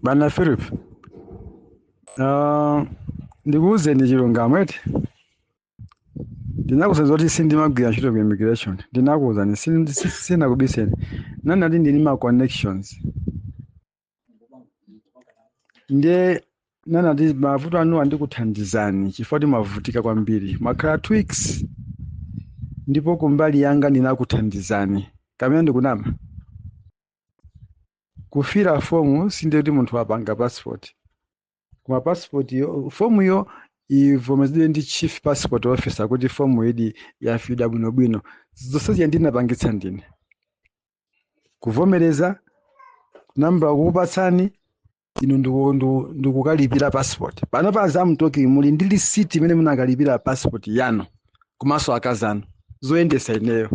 bana philip um, ndikuwuzeni chilungamo eti ndinakuwuzani zoti sindimagwira ntchito ku immigration ndinakuwuzani sin- si- sinakubiseni ndinati ndili ndi ma connections ndiye ndinati mavuto anuwa ndikuthandizani chifukwa choti mwavutika kwambiri mwakhala two weeks ndipo kumbali yanga ndinakuthandizani kapena ndikunama kufira fomu sindiye kuti munthu wapanga passport koma passport yo fomuyo ivomerezedwe ndi chief passport officer kuti fomu iyi yafidwa bwinobwino zonsezi ndinapangitsa ndine kuvomereza nambala kukupatsani inu ndiku- ndiku- mukukalipira passport pano as I'm talking muli ndi lisiti imene munakalipira passport yanu komanso akazanu zoyendesa ineyo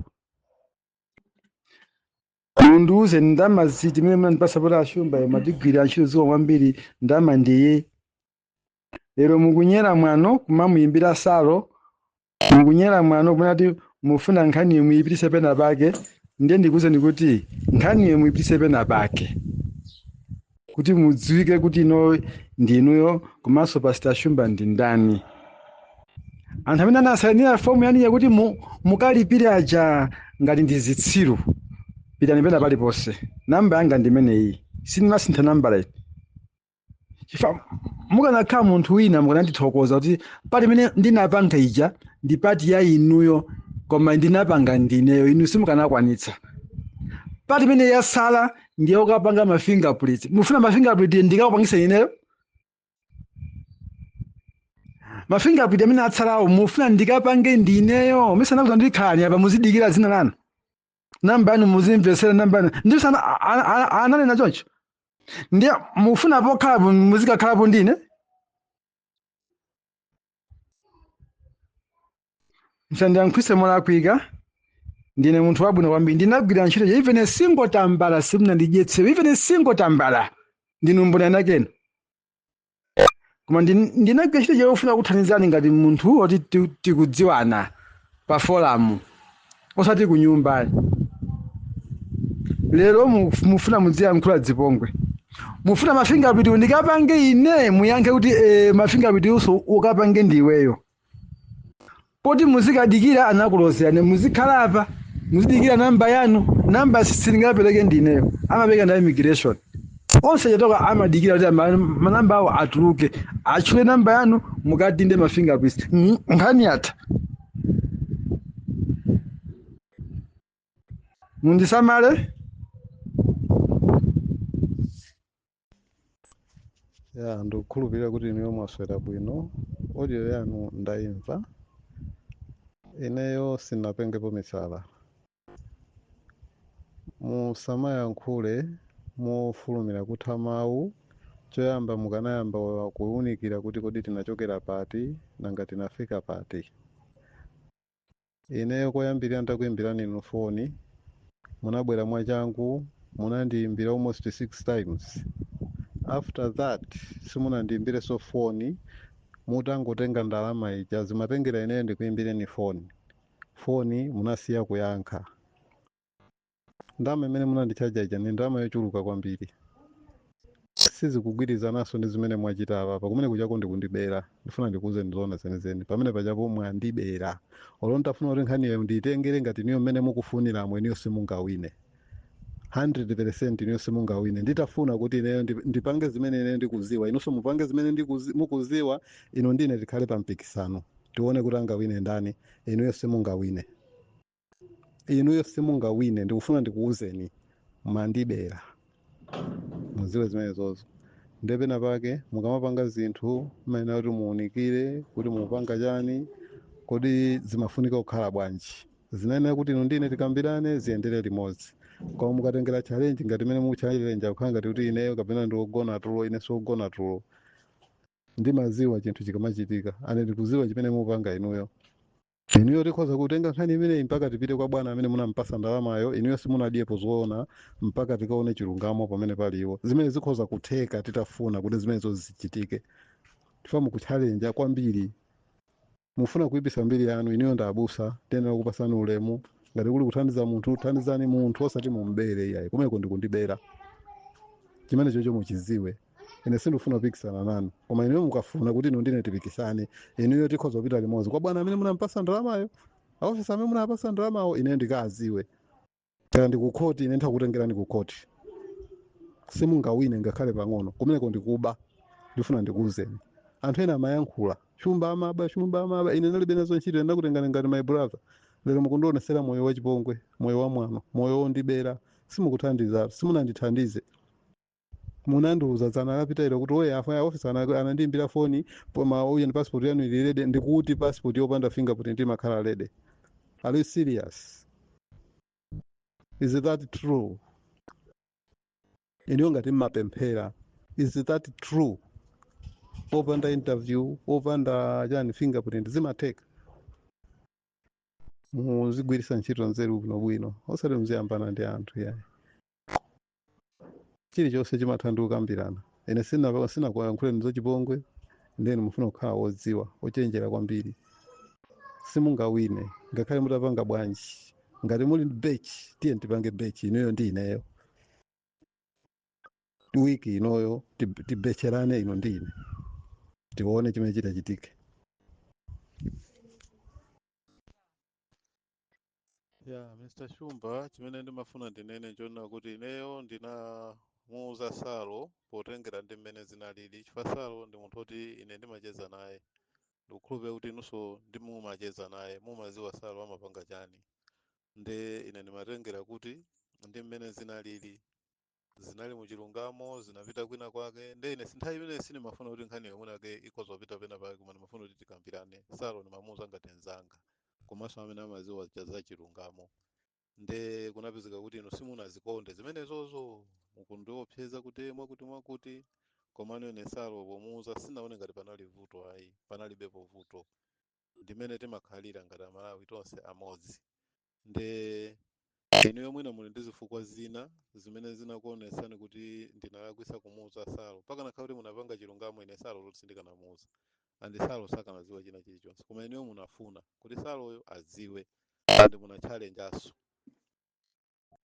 Mundiuze ndalama zimene munandipasa poti a Shumbayo amati mwatigwirira ntchito zikomo kwambiri ndalama ndiyi lero mukunyera mwano kumamuyimbira salo mukunyera mwano kumanena kuti mufuna nkhaniyo muyipitise pena pake ndiye ndikuwuzeni kuti nkhaniyo muyipitise pena pake kuti mudziwike kuti ino ndi inuyo komanso pastor shumba ndi ndani anthu amene anasainira fomu yanu ija kuti mu, mukalipire aja ngati ndi zitsiru pitani pena paliponse namba yanga ndi imeneyi sindimasintha nambala iti chifukwa mukanakhala munthu wina mukanandithokoza kuti pati imene ndinapanga ija ndi pati ya inuyo koma ndinapanga ndineyo inu simukanakwanitsa pati imene yasala ndiye ukapanga ma fingerprint mufuna ma fingerprint ndikakupangisa ineyo ma fingerprint amene atsalawo mufuna ndikapange ndineyo mesa anakuuzani kuti khalani apa muzidikira dzina lanu namba yanu muzimvesera namba yanu mesa ananena choncho ndiye mufuna pokhalapo muzikakhalapo ndine musandiyankhulitse molakwika ndine munthu wabwino kwambiri ndinagwira ntchito yo even a single tambala simunandidyetse even a single tambala ndinu mboni a Nakena koma ndin- ndinagwira ntchito yofuna kukuthandizani ngati munthu woti ti- tikudziwana pa forum osati ku nyumba lero mu- mufuna muziyankhula zipongwe mufuna ma fingerprint ndikapange ine muyankhe kuti e, ma fingerprint onso ukapange ndiweyo poti muzikadikira anakulozerani muzikhala apa muzidikira namba yanu namba sindingapereke ndineyo amapereka ndi a immigration onse chatoka amadikira kuti ama- manamba awo atuluke atchule namba yanu mukadinde ma fingerprints Mm, nkhani yatha mundisamale ya ndikukhulupirira kuti inuyo mwaswera bwino audio yanu ndayimva ineyo sinapengepo misala musamayankhule mofulumira kutha mawu choyamba mukanayamba kuwunikira kuti kodi tinachokera pati nanga tinafika pati ineyo koyambirira ndakuyimbirani inu foni munabwera mwachangu munandiyimbira almost 6 times after that simunandiyimbirenso foni mutangotenga ndalama ija zimatengera ineyo ndikuyimbireni foni foni munasiya kuyankha ndalama imene munandichaja ija ndi ndalama yochuluka kwambiri sizikugwirizananso ndi zimene mwachita apapa kumene kuchako ndikundibera ndifuna ndikuuzeni zoona zenizeni pamene pachapo mwandibera olo nditafuna kuti nkhaniyo ndiyitengere ngati inuyo mmene mukufuniramo inuyo simungawine 100% inuyo simungawine nditafuna kuti ineyo ndi- ndipange zimene ineyo ndikuziwa inunso mupange zimene ndikuzi- mukuziwa inu ndine tikhale pa mpikisano tione kuti angawine ndani inuyo simungawine inuyo simungawine ndikufuna ndikuwuzeni mandibera muziwe zimenezozo nde pena pake mukamapanga zinthu mayenera kuti muunikire kuti mupanga chani kodi zimafunika kukhala bwanji zinayenera kuti inu ndine tikambirane ziyendere limodzi koma mukatengera challenge ngati imene mukuchalenja kukhala ngati kuti ineyo kapena ndiwogona tulo ine siwogona tulo ndimaziwa chinthu chikamachitika and ndikuziwa chimene mupanga inuyo inuyo tikhoza kutenga nkhani imeneyi mpaka tipite kwa bwana amene munampasa ndalamayo inuyo simunadyepo zoona mpaka tikaone chilungamo pamene pali iwo zimene zikhoza kutheka titafuna kuti zimenezo zichitike chifukwa mukutchalenja kwambiri mufuna kuipisa mbiri yanu inuyo ndi abusa tiyenera kupasani ulemu ngati kuli kuthandiza munthu thandizani munthu osati mumubere iyayi kumeko ndikundibera chimenecho muchiziwe ine sindikufuna kupikisana nanu koma inuyo mukafuna kuti inu ndine tipikisane inuyo tikhoza kupita limodzi kwa bwana amene munampasa ndalamayo aofisa amene munapasa ndalamawo ine ndikaziwe kaya ndikukhoti ine ndithakutengerani kukhoti simungawine ngakhale pang'ono kumeneko ndikuba ndifuna ndikuuzeni anthu ena amayankhula chumba amaba chumba amaba ine ndilibe nazo ntchito ndakutengani ngati my brother lero mukundionesera moyo wachipongwe moyo wamwano moyo wondibera simukuthandiza simunandithandize munandiuza dzana lapitalo kuti oya a ofesi ana- anandiimbira foni kuti passport yanu ili ready ndikuti passport yopanda fingerprint imakhala ready are you serious is that true inuyo ngati mmapemphera is that true opanda interview opanda chani fingerprint zimatheka muzigwiritsa ntchito nzeru bwinobwino osati muziyambana ndi anthu ayi chilichonse chimatha ndi kukambirana ine sina- sinakuyankhuleni zachipongwe ndeni mufuna kukhala wodziwa ochenjera kwambiri simungawine ngakhale mutapanga bwanji ngati muli ndi bet tiye tipange bet inuyo ndi ineyo wiki inoyo tib- tibetcherane inu ndi ine tione chimene chitachitike ya mr shumba chimene ndimafuna ndinene nchonena kuti ineyo ndinamuuza salo potengera ndi mmene zinalili chifukwa salo ndi munthu oti ine ndimacheza naye ndikukhulupirira kuti inunso mumacheza naye mumaziwa salo amapanga chani nde ine ndimatengera kuti ndi mmene zinalili zinali mu chilungamo zinapita kwina kwake nde ine nthawi imene sinimafuna kuti nkhani yomwe yake ikhoza kupita pena pake koma ndimafuna kuti tikambirane salo ndimamuuza ngati nzanga komanso amene amaziwa cha za chilungamo nde kunapezeka kuti inu simunazikonde zimenezozo mukundiopseza kuti mwakuti mwakuti komano ine salo pomuuza sinaone ngati panali vuto ayi panalibepo vuto ndi mmene timakhalira ngati amalawi tonse amodzi nde inuyo mwina muli ndi zifukwa zina zimene zinakuonesani kuti ndinalakwisa kumuuza salo pakanakhala kuti munapanga chilungamo ine salo zoti sindikanamuuza andi salo sakanadziwa china chilichonse koma inuyo munafuna kuti saloyo adziwe andi munachalenjaso